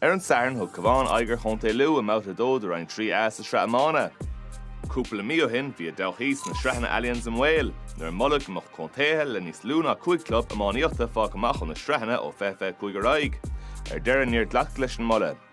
Ar an Satharn, thug Cabhán aghaidh ar Chontae Lú i mbabhta a dó de Roinn 3A sa Sraith Iomána. Cúpla mí ó shin, bhí a dtodhchaí sna Sraitheanna Allianz i mbaol, nuair a moladh go mbeadh contaetha le níos lú ná cúig chlub iománaíochta fágtha amach ó na sraitheanna ó fiche fiche cúig ar aghaidh. Ar deireadh, níor glacadh leis an moladh.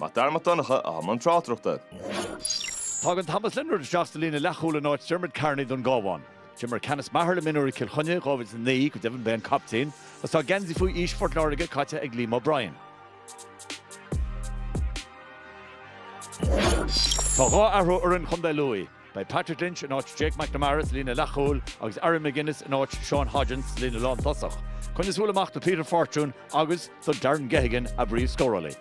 Mac Dara Mac Donncha atá i mbun tráchtaireachta. Tagann Thomas Leonard isteach sa líne leathchúil in áit Diarmaid Carney don gCábhán. D'imir Canice Maher le mionúir Chill Chainnigh i 2009, go deimhin ba é an captaen, agus tá geansaí faoi aois Phort Láirge caite ag Liam O'Brien. Tá dhá athrú ar fhoireann chontae Lú i. Beidh Patrick Lynch in áit Jake McNamara sa líne leathchúil agus Aaron McGuinness in áit Sean Hodgins sa líne lántosach, coinnigí súil amach do Peter Fortune agus do Darren Geoghegan a bpríomhscórálaí.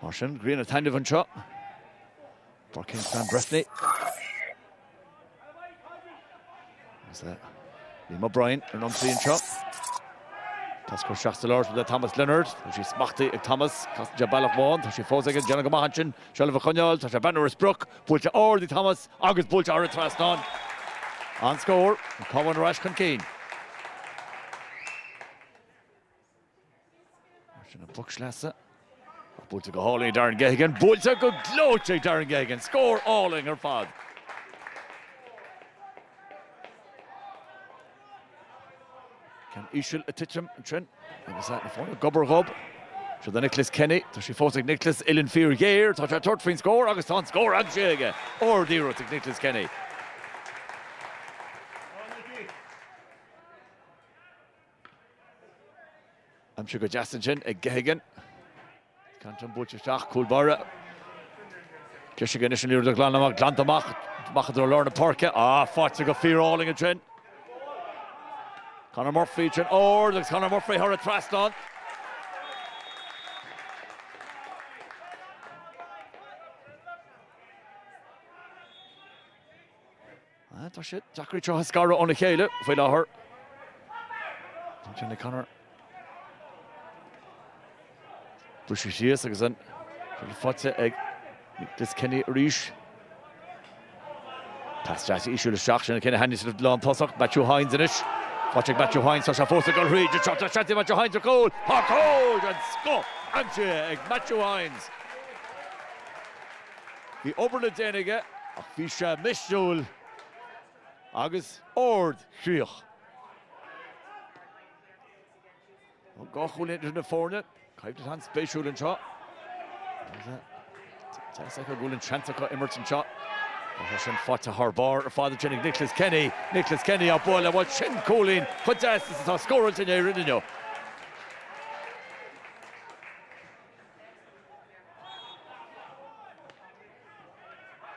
Mar sin, grian ag taitneamh anseo i bPáirc Kingspan Breffni. Is é Liam O'Brien ar an ionsaí anseo. Pas curtha isteach sa lár le Thomas Leonard. Tá sí smachtaithe ag Thomas. Casann sé bealach amháin. Tá sí fós aige. Déanann go maith ansin. Seilbh a choinneáil. Tá sé ag breathnú ar an sprioc. Buailte ard ag Thomas agus buailte thar an trasnán. An-scór. An Cabhán ar ais chun cinn. Mar sin an poc sleasa. Ach buailte go hálainn ag Darren Geoghegan. Buailte go gleoite ag Darren Geoghegan. Scór álainn ar fad. Ceann íseal ag titim ansin. Agus na foirne gob ar ghob. Seo é Nicholas Kenny. Tá sí fós ag Nicholas. Uilleann fíor ghéar. Tá sé ag tabhairt faoin scór agus tá an scór aimsithe aige. Ard iarracht ag Nicholas Kenny. Aimsithe go deas ansin ag Geoghegan. Ceann fada buailte isteach, cúl báire. Caithfidh sé anois an liathróid a ghlanadh amach, glanta amach, amach i dtreo lár na páirce. Ah, faighte go fíorálainn ansin. Conor Murphy go hard agus Conor Murphy thar an trasnán. Tá sé deacair iad a scaradh óna chéile faoi láthair. Johnny Connor buailte síos agus an liathróid faighte ag Nicholas Kenny arís. Pas deas íseal isteach ansin ag Kenny chun an líne lántosach. Matthew Hynes anois. Faighte ag Matthew Hynes, tá sé fós ag gol thríd an trácht. Tá seans ag Matthew Hynes ar chúl. Tá cúl den scoth aimsithe ag Matthew Hynes. Bhí obair le déanamh aige ach bhí sé misniúil agus ardchroíoch. Tá dhá chúilín idir na foirne. Coimhlint an-spéisiúil anseo. Deis acu, bhuel an seans acu imirt anseo. Tá sin faighte thar barr ar fad ansin ag Nicholas Kenny. Nicholas Kenny a bhuail é, bhuel sin cúilín chomh deas is atá scóráilte in Éirinn inniu.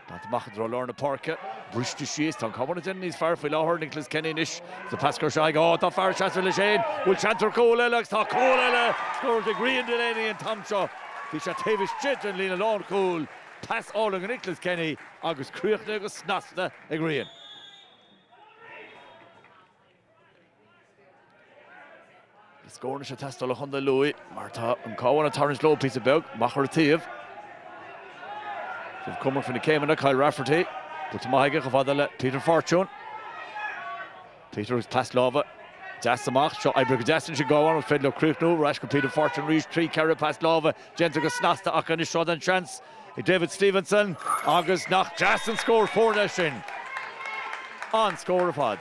Buailte amach i dtreo lár na páirce. Briste síos. Tá an Cabhán ag déanamh níos fearr faoi láthair. Nicholas Kenny anois. Sa phas gearr seo aige. Ááá, tá fear ag seasamh leis féin! Bhuel, seans ar chúl eile agus tá cúl eile scóráilte ag Rian Delaney an t-am seo. Bhí sé taobh istigh den líne lánchúil. Pas álainn ag Nicholas Kenny agus críochnaithe go snasta ag Rian. Is scór anois ag teastáil ó Chontae Lú mar tá an Cabhán ag tarraingt leo píosa beag, amach ar an taobh, cúramach faoi na céimeanna, Kyle Rafferty go maith aige, chomh fada le Peter Fortune. Peter agus pas láimhe deas amach, seo oibrithe go deas anois acu, an féidir leo críochnú. Ar ais go Peter Fortune arís, trí, ceithre pas láimhe déanta go snasta acu anois. Seo an seans. ag David Stephenson agus nach deas an scór foirne sin! An-scór ar fad.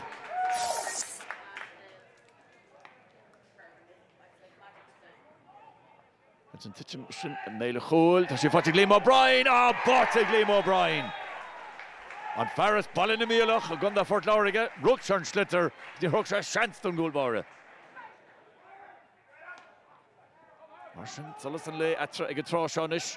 Agus sin ag titim i mbéal an chúil, tá sé faighte ag Liam O'Brien! Á, báite ag Liam O'Brien! An fear as Baile na Míolach i gContae Phort Láirge, rug sé ar an sliotar agus níor thug sé seans don gcúl báire. Mar sin, solas an lae eatarthu ag an tráth seo anois.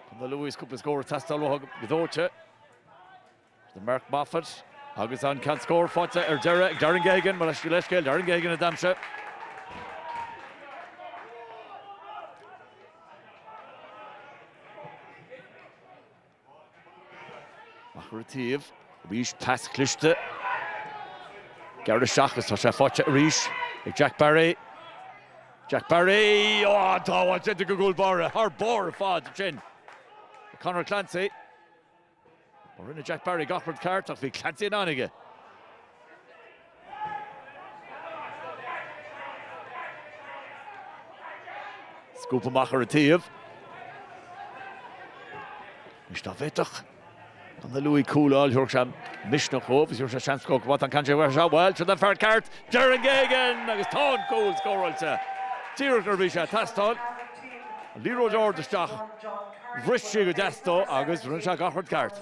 Contae Lú is cúpla scór ag teastáil uathu go dóite. Is é Mark Moffett agus an ceann scóir faighte ar deireadh ag Darren Geoghegan, mo leithscéal Darren Geoghegan a d'aimsigh. Amach ar an taobh, arís, pas cliste, gearradh isteach agus tá sé faighte arís ag Jack Barry. Jack Barry, oh, an tsábháil déanta ag an gcúl báire, thar barr ar fad ansin ag Conor Clancy. Rinne Jack Barry gach rud ceart ach bhí Clancy in ann aige. Scuabtha amach ar an taobh. Anois dá bhféadfadh Contae Lú cúl a fháil, thabharfadh sé misneach dhóibh agus thabharfadh sé seans dhóibh Mhatt an caint a bheith anseo, bhuel, seo don fear ceart, Darren Geoghegan agus tá an cúl scóráilte! Díreach nuair a bhí sé ag teastáil. An liathróid ard isteach, bhris sí go deas dó agus rinne sé gach rud ceart.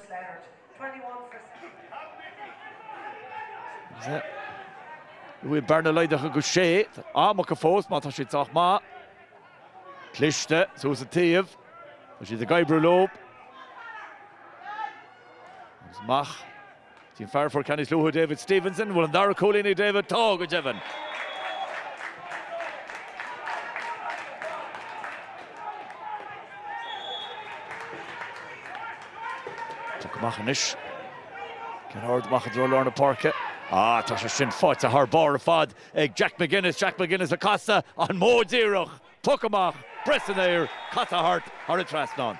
Bearna ag laghdú, ach go sé am acu fós mar tá siad sách maith. Cliste suas an taobh. Tá siad ag oibriú leo. Amach go dtí an fear a fuair ceann níos luaithe, David Stevenson. An bhfuil an dara cúilín ag David? Tá, go deimhin. Poc amach anois. Ceann ard amach i dtreo lár na páirce. Ah, tá sé sin faighte thar barr ar fad ag Jack McGuinness. Jack McGuinness ag casadh, an modh díreach! Poc amach, breith san aer, casadh thart, thar an trasnán.